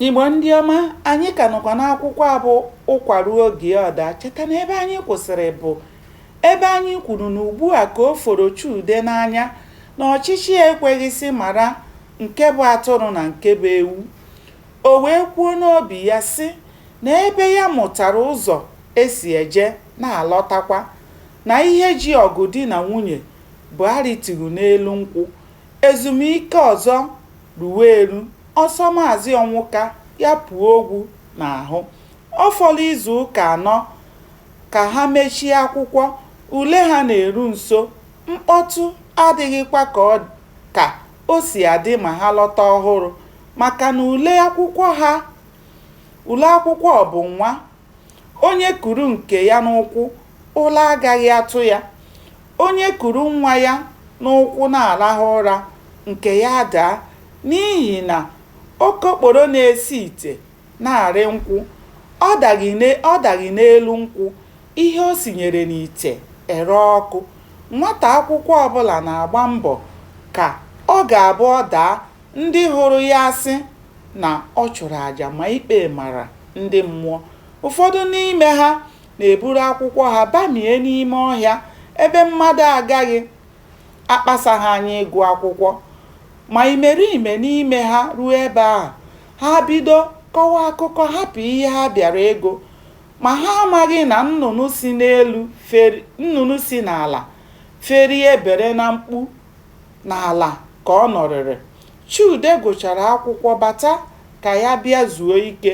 Igbo ndị ọma, anyị ka nọkwa n'akwụkwọ a bụ ụkwa ruo oge ọ daa. Cheta na ebe anyị kwụsịrị bụ ebe anyị kwuru na ugbu a ka o foro Chude n'anya na ọchịchị ekweghị sị mara nke bụ atụrụ na nke bụ ewu. O wee kwuo n'obi ya sị na ebe ya mụtara ụzọ e si eje na-alọtakwa, na ihe ji ọgụ di na nwunye bụ arịtughị n'elu nkwụ, ezumike ọzọ ruwe eru, ọ sọ Maazị Ọnwụka ya puo ogwu n'ahụ. Ọ fọrọ izu ụka anọ ka ha mechie akwụkwọ, ule ha na-eru nso, mkpọtụ adịghịkwa ka ọ ka o si adị ma ha lọta ọhụrụ maka na ule akwụkwọ ha ule akwụkwọ bụ nwa Onye kuru nke ya n'ụkwụ, ụra agaghị atụ ya. Onye kuru nwa ya n'ụkwụ na-arahụ ụra, nke ya adaa, n'ihi na okokporo na-esi ite na-arị nkwụ, ọ daghị ọ daghị n'elu nkwụ, ihe o sinyere n'ite eree ọkụ. Nwata akwụkwọ ọbụla na-agba mbọ ka ọ ga-abụ ọ daa, ndị hụrụ ya asị na ọ chụrụ aja ma ikpe mara ndị mmụọ. Ụfọdụ n'ime ha na-eburu akwụkwọ ha bamie n'ime ọhịa ebe mmadụ agaghị akpasa ha anya ịgụ akwụkwọ. Ma imerime n'ime ha ruo ebe ahụ, ha bido kọwa akụkọ hapụ ihe ha bịara ịgụ. Ma ha amaghị na nnụnụ si n'elu feri nnụnụ si n'ala ferie bere na mkpu n'ala ka ọ nọrịrị. Chude gụchara akwụkwọ bata ka ya bịa zuo ike.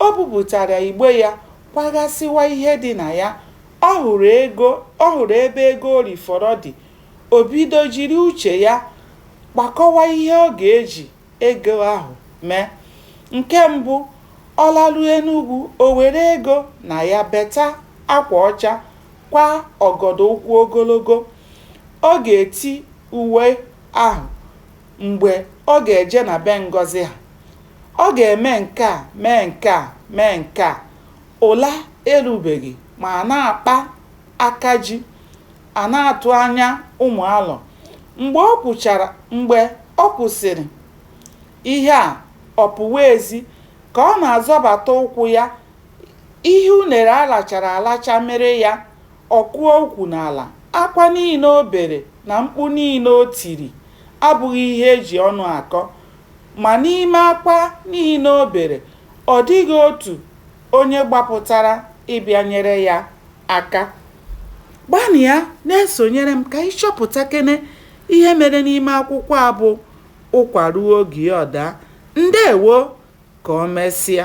O bupụtara igbe ya, kwaghasịwa ihe dị na ya. Ọ hụrụ ego, ọ hụrụ ebe ego o rifọrọ dị. O bido jiri uche ya kpakọwa ihe ọ ga-eji ego ahụ mee. Nke mbụ, ọ laruo Enugwu, o were ego na ya beta akwa ọcha, kwaa ọgọdọ ụkwụ ogologo ọ ga-eti uwe ahụ mgbe ọ ga-eje na be Ngozi ha. Ọ ga-eme nke a mee nke a mee nke a. Ụla erubeghị ma a na-akpa aka ji, a na-atụ anya ụmụ alọ. Mgbe o kwuchara mgbe o kwusịrị ihe a, ọ pụwa ezi. Ka ọ na-azọbata ụkwụ ya, ihe unere a lachara alacha mịrị ya Ọ kụọ ukwu n'ala, akwa niile o bere na mkpu niile o tiri abụghị ihe e ji ọnụ akọ. Ma n'ime akwa niile o bere, ọ dịghị otu onye gbapụtara ịbịa nyere ya aka. Gbanịa na-esonyere m ka ị chọpụtakene ihe mere n'ime akwụkwọ a bụ Ụkwa Ruo Oge Ya Ọ Daa. Ndewo! Ka o mesịa.